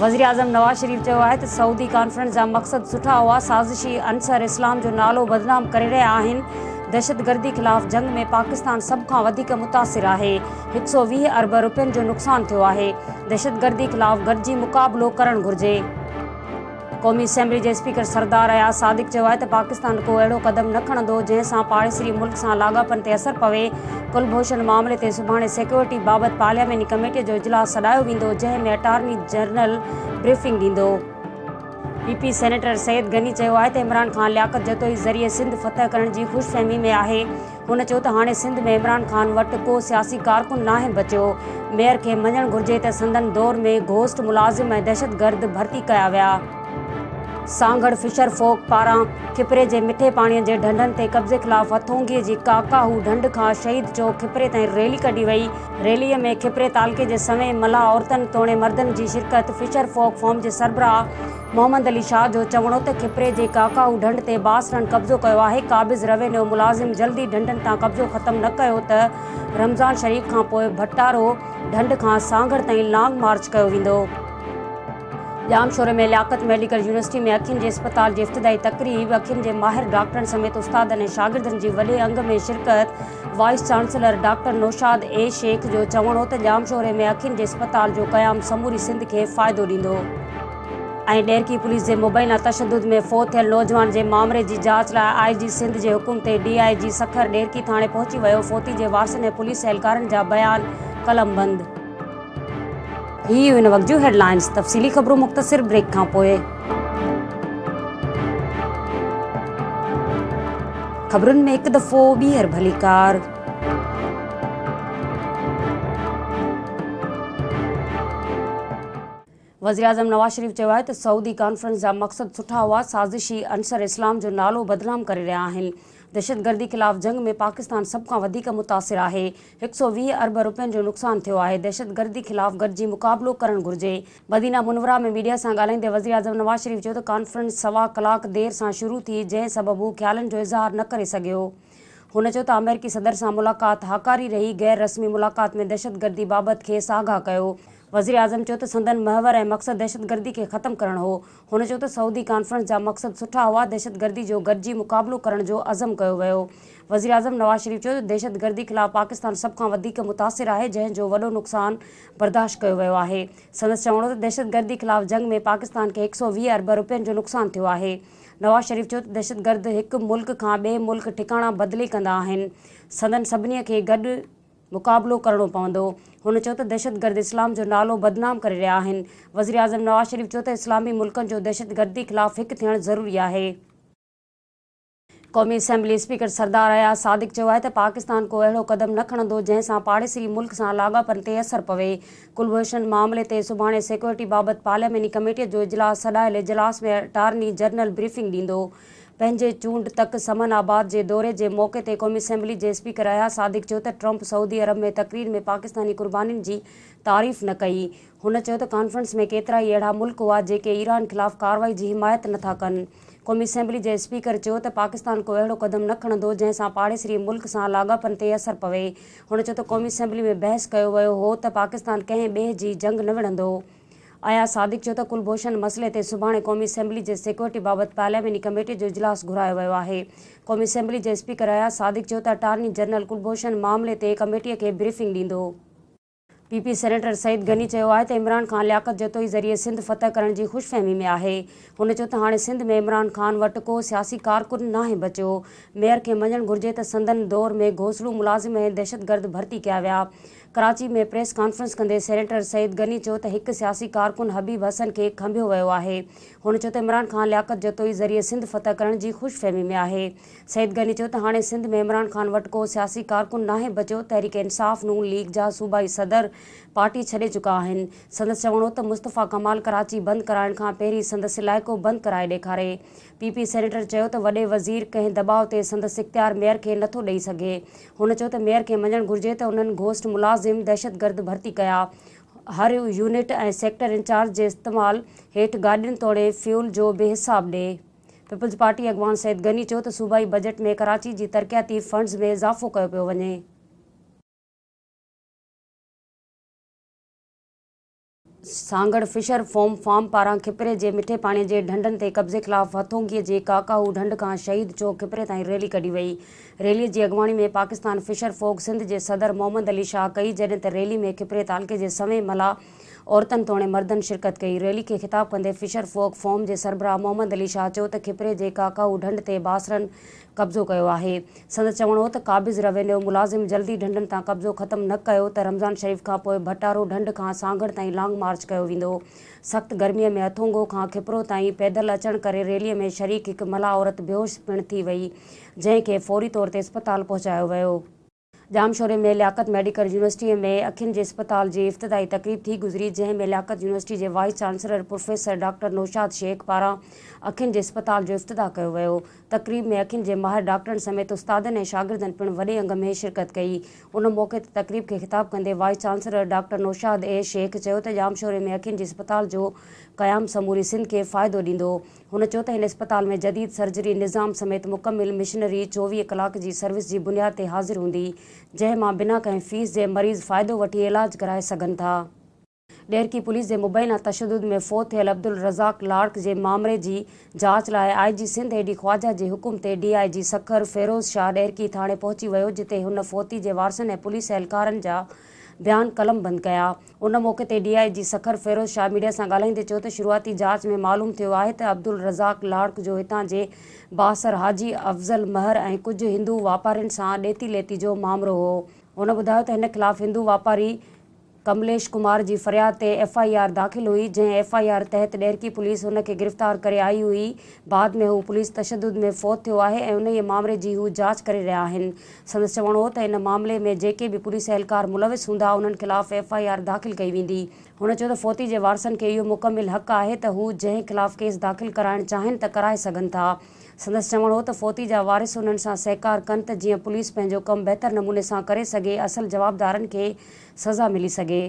وزيراعظم نواز شريف چيو آهي ته سعودي ڪانفرنس جا مقصد سٺا هئا، سازشي عنصر اسلام جو نالو بدنام ڪري رهيا آهن، دهشتگردي خلاف جنگ ۾ پاڪستان سڀ کان وڌيڪ متاثر آهي، هڪ سؤ ويهه ارب رپين جو نقصان ٿيو آهي، دهشتگردي خلاف گڏجي مقابلو ڪرڻ گهرجي. قومي اسيمبلي جي اسپيڪر سردار اياز صادق چيو آهي ته پاڪستان ڪو اهڙو قدم نه کڻندو جنهن سان پاڙيسري ملڪ سان لاڳاپن تي اثر پوي، ڪلڀوشن معاملي تي سڀاڻي سيڪيورٽي بابت پارلياماني ڪميٽي جو اجلاس سڏايو ويندو جنهن ۾ اٽارني جنرل بريفنگ ڏيندو. P P senator Syed Ghani چيو آهي ته عمران خان لياقت جتوئي ذريعي سنڌ فتح ڪرڻ جي خوش فهمي ۾ آهي، هن چيو ته هاڻي سنڌ ۾ عمران خان وٽ ڪو سياسي ڪارڪن ناهي بچيو، ميئر کي مڃڻ گهرجي ته سندن دور ۾ گهوسٽ ملازم ۽ دهشتگرد ڀرتي ڪيا ويا. سانگهڙ فشر فوڪ پاران کپري جي مٺي پاڻي جي ڍنڍن تي قبضي خلاف هٿونگي جي ڪاڪاهو ڍنڍ کان شهيد چوڪ کپري تائين ريلي ڪڍي وئي، ريلي ۾ کپري تعلقي جي سوين ملاح عورتن توڻي مردن جي شرڪت فشر فوڪ فارم جي سربراهه. محمد علي شاهه جو چوڻ هو ته کپري جي ڪاڪائو ڍنڍ تي باسرن قبضو ڪيو آهي، قابض روينيو ملازم جلدي ڍنڍن تان قبضو ختم نه ڪيو ته رمضان شريف کان پوء ڀٽارو ڍنڍ کان سانگهڙ تائين لانگ مارچ ڪيو ويندو. ڄامشوري ۾ لياقت ميڊيڪل يونيورسٽي ۾ اکين جي اسپتال جي افتتاحي تقريب، اکين جي ماهر ڊاڪٽرن سميت استادن ۽ شاگردن جي وڏي انگ ۾ شرڪت. Vice chancellor doctor Naushad A Shaikh جو چوڻ هو ته ڄامشوري ۾ اکين جي اسپتال جو قيام سموري سنڌ کي فائدو ڏيندو ۽ ڏيرڪي پوليس جي مبينا تشدد ۾ فوت ٿيل نوجوان جي مامري جي جاچ لاء آء جي سنڌ جي حڪم تي D I G Sukkur Daharki ٿاڻي پهچي ويو فوتي جي وارثن ۽ پوليس اهلڪارن جا بيان قلمبند. هي هيون هن وقت جون هيڊلائنز تفصيلي خبرون مختصر بريڪ کان پوء خبرن ۾ هڪ دفعو ٻيهر ڀليڪار وزيراعظم نواز شريف چيو آهي ته سعودي ڪانفرنس جا مقصد سٺا هئا، سازشي عنصر اسلام جو نالو بدنام ڪري رهيا آهن، دهشتگردي خلاف جنگ ۾ پاڪستان سڀ کان وڌيڪ متاثر آهي، هڪ سؤ ويهه ارب رپين جو نقصان ٿيو آهي، دهشتگردي خلاف گڏجي مقابلو ڪرڻ گهرجي. مدينه منوره ۾ ميڊيا سان ڳالهائيندي وزيراعظم نواز شريف چيو ته ڪانفرنس سوا ڪلاڪ دير سان شروع ٿي جنهن سبب هو خيالن جو اظهار نه ڪري سگهيو، هن چيو ته آمريڪي صدر سان ملاقات هاڪاري رهي، غير رسمي ملاقات ۾ دهشتگردي بابت کيس آگاهه ڪيو. وزيراعظم چيو ته سندن محور ۽ مقصد دهشتگردي کي ختم ڪرڻ هو. هن چيو ته سعودي ڪانفرنس جا مقصد سٺا هئا، دهشتگردي جو گڏجي مقابلو ڪرڻ جو عزم ڪيو ويو. وزيراعظم نواز شريف چيو ته دهشتگردي خلاف پاڪستان سڀ کان وڌيڪ متاثر آهي، جنهن جو وڏو نقصان برداشت ڪيو ويو آهي. سندس چوڻ هو ته دهشتگردي خلاف جنگ ۾ پاڪستان کي هڪ سؤ ويهه ارب رپين جو نقصان ٿيو آهي. نواز شريف چيو ته دهشتگرد هڪ ملڪ کان ٻئي ملڪ ٺڪاڻا بدلي ڪندا آهن، سندن سڀني کي گڏ مقابلو ڪرڻو پوندو. هن چيو ته دهشتگرد اسلام جو نالو بدنام ڪري رهيا آهن. وزيراعظم نواز شريف چيو ته اسلامي ملڪن جو دهشتگردي خلاف هڪ ٿيڻ ضروري آهي. قومي اسيمبلي اسپيڪر سردار اياز صادق چيو آهي ته پاڪستان ڪو اهڙو قدم نه کڻندو جنهن سان پاڙيسري ملڪ سان لاڳاپن تي اثر پوي. ڪلڀوشن معاملي تي سڀاڻي سيڪيورٽي بابت پارلياماني ڪميٽي جو اجلاس سڏايل اجلاس ۾ اٽارني جنرل بريفنگ ڏيندو پنهنجي چونڊ تڪ سمن آباد جي دوري جي موقعي تي قومي اسيمبلي جي اسپيڪر اياز صادق چيو ته ٽرمپ سعودي عرب ۾ تقرير ۾ پاڪستاني قربانين جي تعريف نه ڪئي هن چيو ته ڪانفرنس ۾ ڪيترائي اهڙا ملڪ هئا جيڪي ايران خلاف ڪارروائي جي حمايت نٿا ڪن. قومي اسيمبلي جي اسپيڪر چيو ته پاڪستان ڪو اهڙو قدم نه کڻندو جنهن سان پاڙيسري ملڪ سان لاڳاپن تي اثر پوي. هن چيو ته قومي اسيمبلي ۾ بحث ڪيو ويو هو ته پاڪستان ڪنهن ٻئي جي جنگ نه وڙهندو. اياز صادق چيو ته ڪلڀوشن مسئلي تي سڀاڻي قومي اسيمبلي جي سيڪيورٽي بابت پارلياماني ڪميٽي جو اجلاس گهرايو ويو آهي. قومي اسيمبلي جي اسپيڪر اياز صادق چيو ته اٽارني جنرل ڪلڀوشن معاملي تي ڪميٽي کي بريفنگ ڏيندو. P P senator Saeed Ghani چيو آهي ته عمران خان لياقت جتوئي ذريعي سنڌ فتح ڪرڻ جي خوش فهمي ۾ آهي. هن چيو ته هاڻي سنڌ ۾ عمران خان وٽ ڪو سياسي ڪارڪن ناهي بچيو. ميئر کي مڃڻ گهرجي ته سندن دور ۾ گهوسلو ملازم ۽ دهشتگرد ڀرتي ڪيا ويا. ڪراچي ۾ پريس ڪانفرنس ڪندي سينيٽر سعيد غني چيو ته هڪ سياسي ڪارڪن حبيب حسن کي کنڀيو ويو آهي. هن چيو ته عمران خان لياقت جتوئي ذريعي سنڌ فتح ڪرڻ جي خوش فهمي ۾ آهي. سعيد غني چيو ته هاڻي سنڌ ۾ عمران خان وٽ ڪو سياسي ڪارڪن ناهي بچيو، تحريڪ انصاف نون ليگ جا صوبائي صدر پارٽي ڇڏي چڪا آهن، سندس چوڻ هو ته مصطفيٰ ڪمال ڪراچي بند ڪرائڻ کان پهرين سندس علائقو بند ڪرائي ڏيکاري، پي پي سينيٽر چيو ته وڏي وزير ڪنهن دٻاء تي سندس اختيار ميئر کي نٿو ڏئي سگهي، هن چيو ته ميئر کي مڃڻ گهرجي ته انهن گهوسٽ ملازم دهشتگرد ڀرتي ڪيا، هر يونٽ ۽ سيڪٽر انچارج جي استعمال هيٺ گاڏين توڙي فيول جو به حساب ڏي. پيپلز پارٽي اڳواڻ سيد غني چيو ته صوبائي بجيٽ ۾ ڪراچي جي ترقياتي فنڊز ۾ اضافو ڪيو پيو وڃي. سانگهڙ فشر فوم فارم پاران کپري جي مٺي پاڻي جي ڍنڍن تي قبضي خلاف هٿونگي جي ڪاڪاهو ڍنڍ کان شهيد چوڪ کپري تائين ريلي ڪڍي وئي. ريلي جي اڳواڻي ۾ پاڪستان فشر فوڪ سنڌ جي صدر محمد علي شاهه ڪئي جڏهن ته ريلي ۾ کپري تعلقي جي سوين ملاح، عورتن توڻي مردن شرڪت ڪئي. ريلي کي خطاب ڪندي فشر فوڪ فورم جي سربراهه محمد علي شاهه چيو ته کپري جي ڪاڪائو ڍنڍ تي باسرن قبضو ڪيو آهي. سندس چوڻ هو ته قابض روينيو ملازم جلدي ڍنڍن تان قبضو ختم نه ڪيو ته رمضان شريف کانپوء ڀٽارو ڍنڍ کان سانگهڙ تائين لانگ مارچ ڪيو ويندو. سخت گرمي ۾ اٿونگو کان کپرو تائين پيدل اچڻ ڪري ريلي ۾ شريڪ هڪ ملاح عورت بيهوش پڻ ٿي وئي جنهن کي فوري طور تي اسپتال پهچايو ويو. ڄامشوري ۾ لياقت ميڊيڪل يونيورسٽيء ۾ اکين جي اسپتال جي افتتاحي تقريب ٿي گذري، جنهن ۾ لياقت يونيورسٽيء جي vice chancellor professor doctor Naushad Shaikh پاران اکين جي اسپتال جو افتتاح ڪيو ويو. تقريب ۾ اکين جي ماهر ڊاڪٽرن سميت استادن ۽ شاگردن پڻ وڏي انگ ۾ شرڪت ڪئي. ان موقعي تي تقريب کي خطاب ڪندي vice chancellor doctor Naushad A Shaikh چيو ته ڄامشوري ۾ اکين جي اسپتال جو قيام سموري سنڌ کي فائدو ڏيندو. هن چيو ته هن اسپتال ۾ جديد سرجري نظام سميت مڪمل مشنري چوويهه ڪلاڪ جي سروس جي بنياد تي حاضر هوندي، جنهن مان بنا ڪنهن فيس جي مريض فائدو وٺي علاج ڪرائي سگهن ٿا. ڏيرڪي پوليس جي مبينا تشدد ۾ فوت ٿيل عبدالرزاق لاڙڪ جي مامري جي جاچ لاء آء جي سنڌ اي ڊي خواجه جي حڪم تي D I G Sukkur Feroz Shah Daharki ٿاڻي پهچي ويو جتي هن فوتي جي وارثن ۽ پوليس اهلڪارن جا بيان قلمبند ڪيا. ان موقعي تي D I G Sukkur Feroz Shah media سان ڳالهائيندي چيو ته شروعاتي جاچ ۾ معلوم ٿيو آهي ته عبدالرزاق لاڙڪ جو هتان جي بااثر حاجي افضل مهر ۽ ڪجهه هندو واپارين سان ڏيتي ليتي جو مامرو هو هن ٻڌايو ته هن خلاف هندو واپاري ڪمليش ڪمار جي فرياد تي ايف آء آر داخل هئي جنهن ايف آء آر تحت ڏهرڪي پوليس هن کي گرفتار ڪري آئي هئي بعد ۾ هو پوليس تشدد ۾ فوت ٿيو آهي ۽ انهيء مامري جي هو جاچ ڪري رهيا آهن سندس چوڻ هو ته ان معاملي ۾ جيڪي به پوليس اهلڪار ملوث هوندا انهن خلاف ايف آء آر داخل ڪئي ويندي. هن چيو ته فوتي جي وارثن کي اهو مڪمل حق آهي ته هو جنهن خلاف ڪيس داخل ڪرائڻ چاهين ته ڪرائي سگهن ٿا. سندس چوڻ هو ته فوتي جا وارث انهن سان سهڪار ڪن ته جيئن پوليس پنهنجو ڪم بهتر نموني سان ڪري سگهي اصل جوابدارن کي سزا ملي سگهي.